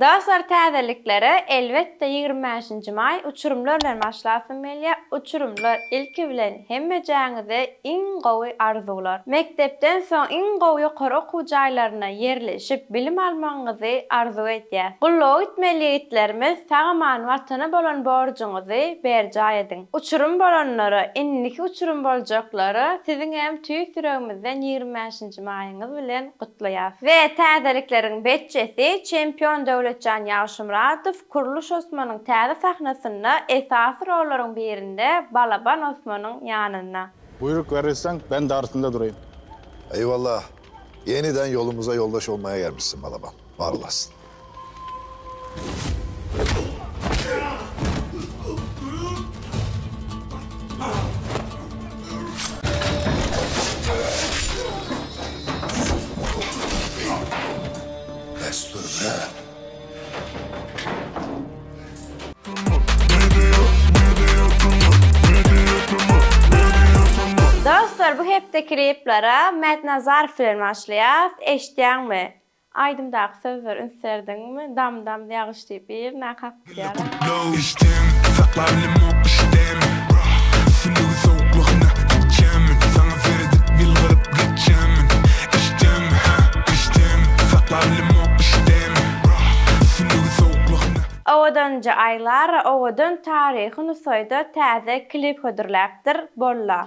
Dostlar täzeliklere elbetde ýigrimi bäşinji maý uçurymlar bilen başlasym gelýär uçurymlar ilki bilen hemmejäňize iň gowy arzuwlar mekdepden soň iň gowy ýokary okuw jaýlaryna ýerleşip bilim almagyňyzy arzuw edýäs gulluga gitmeli ýigitlerimiz sagaman watana bolan borjuňyzy berjaý ediň uçurym bolanlara indiki uçurym boljaklara siziňem tüýs ýüregimizden ýigrimi bäşinji Jumaýyňyz bilen gutlaýas. We täzelikleriň betjesi, çempion Döwletjan Ýagşymyradow, Kurluş Osmanyň täze sahnasynda, esasy rollaryň birinde Balaban Osmanyň ýanynda. Buýruk berilseň, ben dartynda duraýyn. Eýwallah! Ýeniden ýolumyza ýoldaş bolmaýa gelmişsiň, Balaban. Bar olasyn! Dostlar bu hepdeki replere Mätnazarow bilen başlaýas, eşitýäňmi? Aýdymdaky sözler üns berdiňmi dam dam ýagyş diýip birine kakýar. Owadanja Aýlara owadan taryhy Nusaýda täze klip hödürläpdir, Bolla.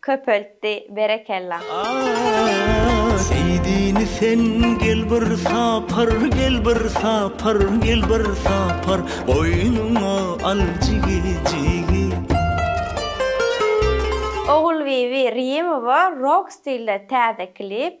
köpeltdi berekella. Seýdini sen gel bir sapar gel bir sapar gel bir sapar goýnuňa al jigi jigi. Ogulbibi Rimowa rok stilde täze klip.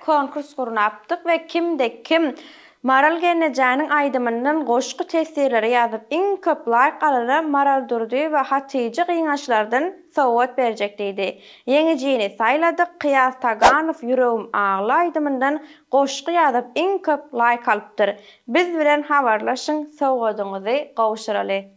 Konkurs gurnapdyk we kimde kim Maral gelnejäniň aýdymyndan goşgy teswirleri ýazyp iň köp laýk alana Maral Durdyýewa Hatyja gyňaçlardan sowgat berjek diýdi. Ýeňijini saýladyk, Kyýas Taganow Ýüregim agly aýdymyndan goşgy ýazyp iň köp laýk alypdyr. Biz bilen habarlaşyň sowgadyňyzy gowşuraly.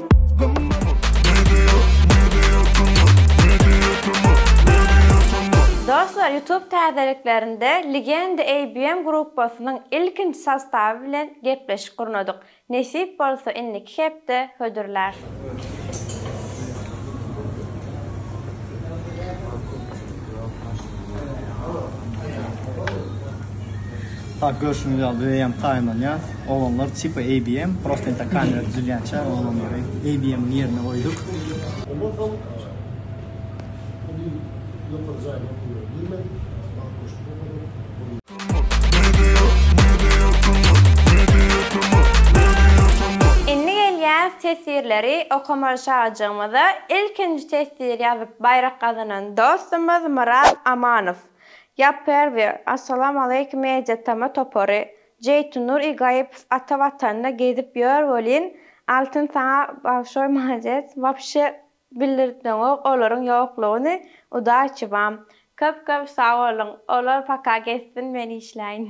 Dostlar YouTube täzeliklerinde Legenda ABM gruppasynyň ilkinji sostawy bilen gepleşik gurnadyk. Nesip bolsa indiki hepde hödürlär. Oglanlar tipa ABM, prosta inta kamera düzülýänçä oglanlary ABM-iň ýerine goýduk. Ondan soň indi ýokary jaýyň okuwyna girmek, Aşgabat goşuny okadym. Indi gelýäs teswirleri okaman şajygymyza ilkinji teswir ýazyp baýrak gazanan dostumyz Myrat Amanow. Ýapyr bir Assalamu Aleýkum Media Tama topary Jeýtunnur i gaýypov ata watanda gezip ýör welin Altyn saňa bagşoý malades wapşe bildirtmeňok olaryň ýoklugyny udaçibam. Köp köp sagboluň olar paka gezsin men işläýin.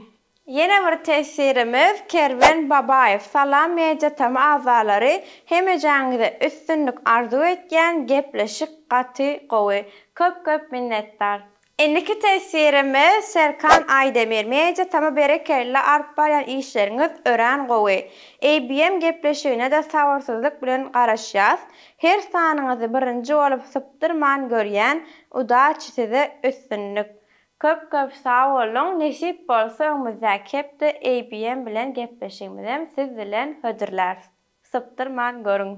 Ýene bir tesirimiz Kerwen Babaýew salam media tm agzalary hemejäňize üstünlik arzuw etýän gepleşik gaty gowy köp köp minnetdar. Indiki teswirimi Serkan Aýdemir Media tama berekella alyp barýan işleriňiz örän gowy. ABM gepleşigine-de sabyrsyzlyk bilen garaşýas. Her sanyňyzy birinji bolup sypdyrman görýän. Udaçi size üstünlik. Köp köp sag boluň, nesip bolsa öňümizdäki hepde ABM bilen gepleşigimizem siz bilen hödürläris. Sypdyrman görüň.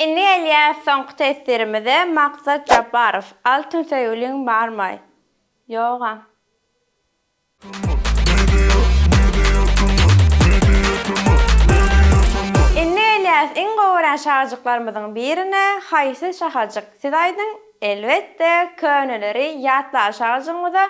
Indi gelýäs soňky teswirimize Maksat Jabbarow Altyn söýgüliň barmy? Ýogam. Indi gelýäs iň gowy görýän şahajyklarymyzyň birine Haýsy şahajyk siz aýdyň Elbetde köneleri ýatlaly şahajygymyza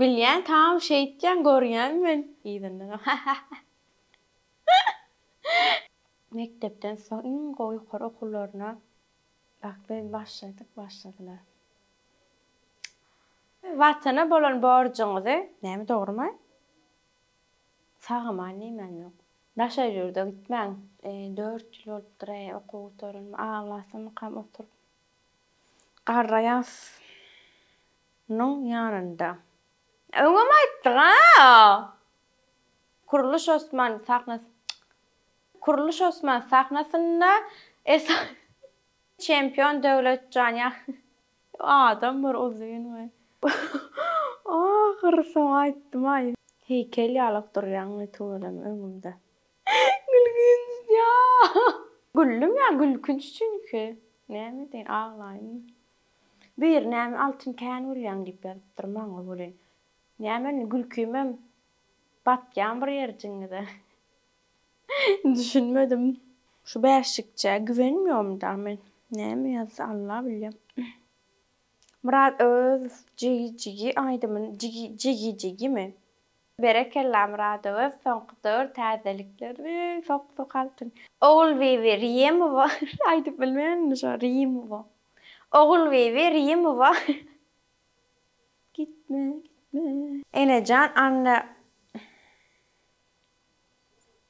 Bilýän tam şeýtýän görýän men yzyndan hahaha. Mekdepden soň iň gowy ýokary okuwlaryna bak biz başladyk başladylar. Watana bolan borjuňyzy näme dogrumy? Sag aman diýmän ýok. Daşary ýurda gitmäň. Dört ýyl bolupdyr-aý okuw gutaranma aglasamykam oturyp. Garraýasynyň ýanynda. Öňem aýtdyk a. Kurluş Osman sahnasy Kurluş Osman sahnasynda esasy. Çempion Döwletjan ýa adam bir uzyn we. Ahyry soň aýtdym aý. Heýkel ýalyk durýaň tüweleme öňümde. Gülgünç ya. Güldüm ya gülkünç çünki. Näme edeýin aglaýynmy. Biri näme Altyn kän gülýäň diýip ýazypdyr maňa welin näme indi gülkimem batýan bir ýerjiňize. Düşünmedim. Şu bäşjikçä güwenmiýomda men. Näme ýazdy Alla bilýä. Myrat Öwezow jigi jigi aýdymyny jigi jigi jigimi? Berekella Myradoöz soňky döwür täzelikleri sok sok altyn. Ogulbibi Riýemowa aýdyp bilmen indi şo Riýemowa Ogulbibi Riýemowa gitme gitme. Enejan Anna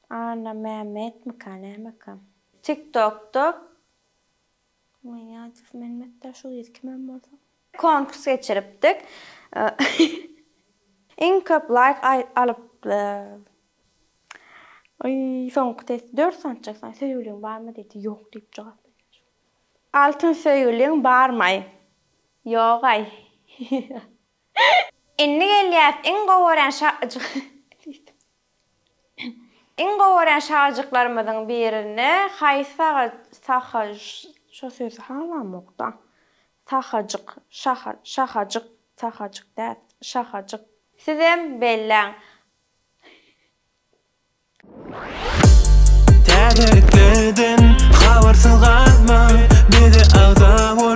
Anna Mämmetmika nämeka. Tiktokda Gniýazow Mehmet Daşoguz kimem bolsa. Konkurs geçiripdik. Iň köp laýk alyp Oý soňky test dört sanjak saň söýgüliň barmy diýdi ýok diýip jogap berýän şol. Altyn söýgüliň barmaý. Ýogaý. Indi gelýäs iň gowy görýän şa diýdim. Iň gowy görýän şagyjyklarymyzyň birine haýsy saga saha şo sözi halamokda sahajyk şaha şahajyk sahajyk däl şahajyk. Sizem belläň. Täzeliklerden habarsyz galma, bize agza bol.